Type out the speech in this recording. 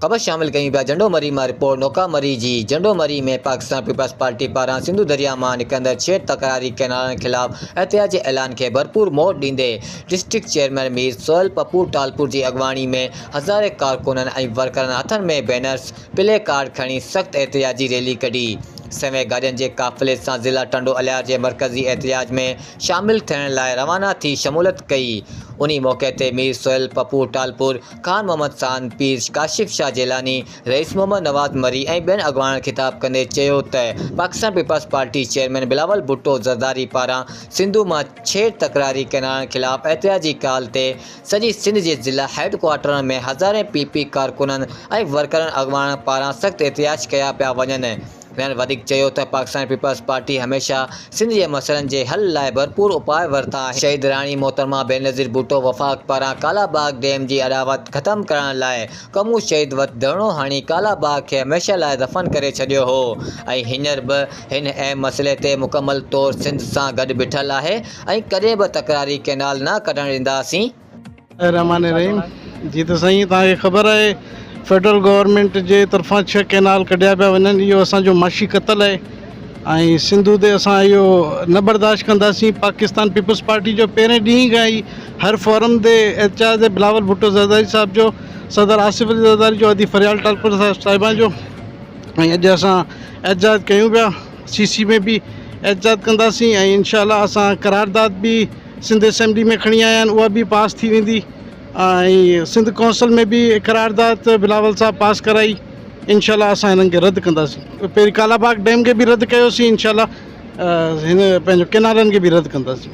خبر شامل ڪيون پيا جهنڊو مري مان رپورٽ نوڪا مري جي جهنڊو مري ۾ پاڪستان پيپلز پارٽي پاران سنڌو درياء مان نڪرندڙ ڇيڙ تڪراري ڪئنالن خلاف احتجاج جي اعلان کي ڀرپور مهر ڏيندي ڊسٽرڪٽ چيئرمين مير سهيل پپو ٽالپور جي اڳواڻي ۾ هزارين ڪارڪنن ۽ ورڪرن هٿن ۾ بينرز پلي ڪارڊ کڻي سخت احتجاجي ريلي ڪڍي سوين گاڏين جي قافلي سان ضلع ٽنڊو الهيار جي مرڪزي احتجاج ۾ شامل ٿيڻ لاء روانا ٿي شمولت ڪئي انهي موقعي تي مير سهيل پپو ٽالپور خان محمد سان پير ڪاشف شاهه جيلاني، رئيس محمد نواز مري ۽ ٻين اڳواڻن خطاب ڪندي چيو ته Pakistan Peoples Party chairman Bilawal Bhutto Zardari پاران سنڌو مان ڇيڙ تڪراري ڪينالن خلاف احتجاجي ڪال تي سڄي سنڌ جي ضلع هيڊ ڪوارٽرن ۾ هزارين پي پي ڪارڪنن ۽ ورڪرن اڳواڻن پاران سخت احتجاج ڪيا پيا وڃن. هنن وڌيڪ چيو ته پاڪستان پيپلز پارٽي هميشه سنڌ جي مسئلن جي حل لاء ڀرپور اپاء ورتا آهن، شهيد راڻي محترمه بينظير ڀٽو وفاق پاران ڪالا باغ ڊيم جي اڏاوت ختم ڪرائڻ لاء ڪمون شهيد وٽ ڌرڻو هڻي ڪالا باغ کي هميشه لاء دفن ڪري ڇڏيو هو ۽ هينئر به هن اهم مسئلي تي مڪمل طور سنڌ سان گڏ بيٺل آهي ۽ ڪڏهن به تڪراري ڪئنال نه ڪڍڻ ڏينداسين. الرحمٰن الرحيم جي ته سائين توهان کي خبر آهي فيڊرل گورنمينٽ جي طرفان ڇهه ڪينال ڪڍيا پيا وڃن اهو اسان جو معاشي قتل آهي ۽ سنڌو تي اسان اهو نه برداشت ڪنداسين پاڪستان پيپلز پارٽي جو پهرين ڏينهن کان ئي هر فورم تي احتجاج آهي بلاول ڀٽو زرداري صاحب جو صدر آصف علي زرداري جو ادي فريال ٽالپر صاحب صاحبان جو ۽ اڄ اسان احتجاج ڪيون پيا سی سي ۾ به احتجاج ڪنداسين ۽ انشاء الله اسان قرارداد به سنڌ اسيمبلي ۾ کڻي آيا آهن اها به پاس ٿي ويندي ۽ سنڌ ڪونسل ۾ به قرارداد بلاول صاحب پاس ڪرائي انشاء الله اسان هنن کي رد ڪنداسين پهرين ڪالاباغ ڊيم کي به رد ڪيوسين انشاء الله هن پنهنجو ڪينالن کي به رد ڪنداسين